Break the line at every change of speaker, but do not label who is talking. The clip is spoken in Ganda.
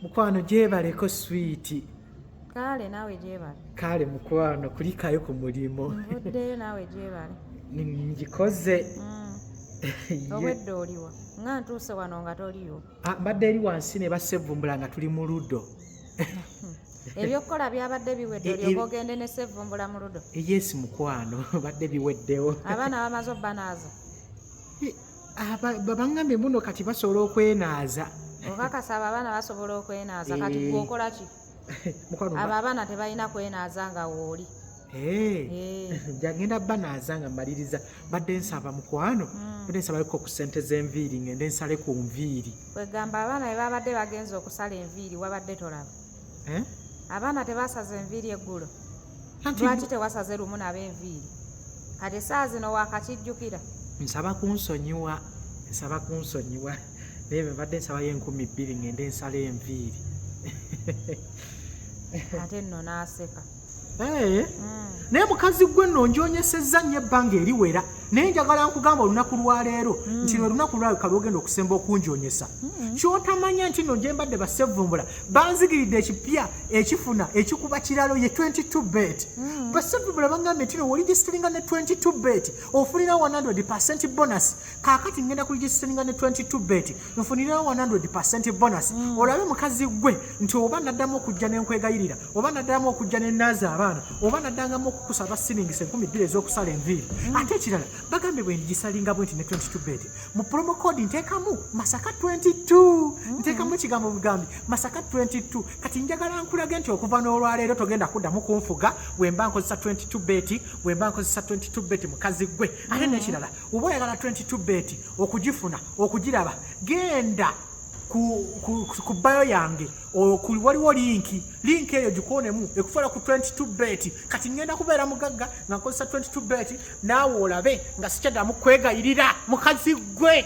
mukwano gyebaleko swiiti kaale
naawe gyebale kaale mukwano
kulikayo ku mulimu nvuddeyo naawe
gyebale ngikoze
mm.
obwedda oliwa nga ntuuse wano nga toliyo ah, mbadde eri wansi
ne basevumbula nga tuli mu ludo ebyokukola
byabadde biwedde e, e, olyoka ogende ne sevumbula mu ludo eyesi mukwano
badde biweddewo abaana bamaze
obbanaaza
babangambye mbuno kati basobola okwenaaza obakasa abo abaana
basobola okwenaaza kati eh. gwokola ki abo abaana tebalina kwenaaza nga wooli eh. eh. jagenda
banaaza nga mmaliriza badde nsaba mukwano hmm. badde nsabaleko ku sente z'enviiri ngende nsale ku nviiri kwegamba abaana be
babadde bagenza okusala enviiri wabadde tolaba abaana tebasaza enviiri eggulo lwaki tewasaze lumu nabo enviiri kati esaa zino wakakijjukira nsaba
kunsonyiwa nsaba kunsonyiwa naye bebadde nsabayo enkumi bbiri ngende nsala enviiri
ate nno naaseka eh? hmm.
naye mukazi gwe nno ngyonyesezza nnyo ebbanga eriwera naye njagala nkugamba olunaku lwaleero hmm. nti lwe lunaku lwaleka lwogenda okusemba okunjonyesa hmm. kyotamanya nti no gyembadde basevumbula banzigiridde ekipya ekifuna ekikuba kiralo ye 22 bet hmm. basevumbula bangambye nti no woligisitiringa ne 22 bet ofunira 100 percent bonus kakati ngenda kuligisitiringa ne 22 bet nfunira 100 percent bonus olabe mukazi gwe nti oba naddamu okujja ne nkwegayirira oba naddamu okujja ne naaza abaana oba naddangamu okukusaba silingisa enkumi bbiri ez'okusala enviiri mm. ate ekirala bagambe bwe ndigisalinga bwe nti ne 22 bed mu promo code nteekamu masaka 22 mm. nteekamu ekigambo bugambi masaka 22 kati njagala nkulage nti okuva n'olwaleero togenda kuddamu kunfuga wemba nkozesa 22 bet wemba nkozesa 22 bet mukazi gwe ate mm. n'ekirala oba oyagala 22 bet okugifuna okugiraba genda ku bayo yange okuli waliwo linki linki eyo gikoonemu ekutwala ku 22 bet kati ŋŋenda kubeera mugagga nga nkozesa 22 bet naawe olabe nga sikyaddamu kwegayirira mukazi gwe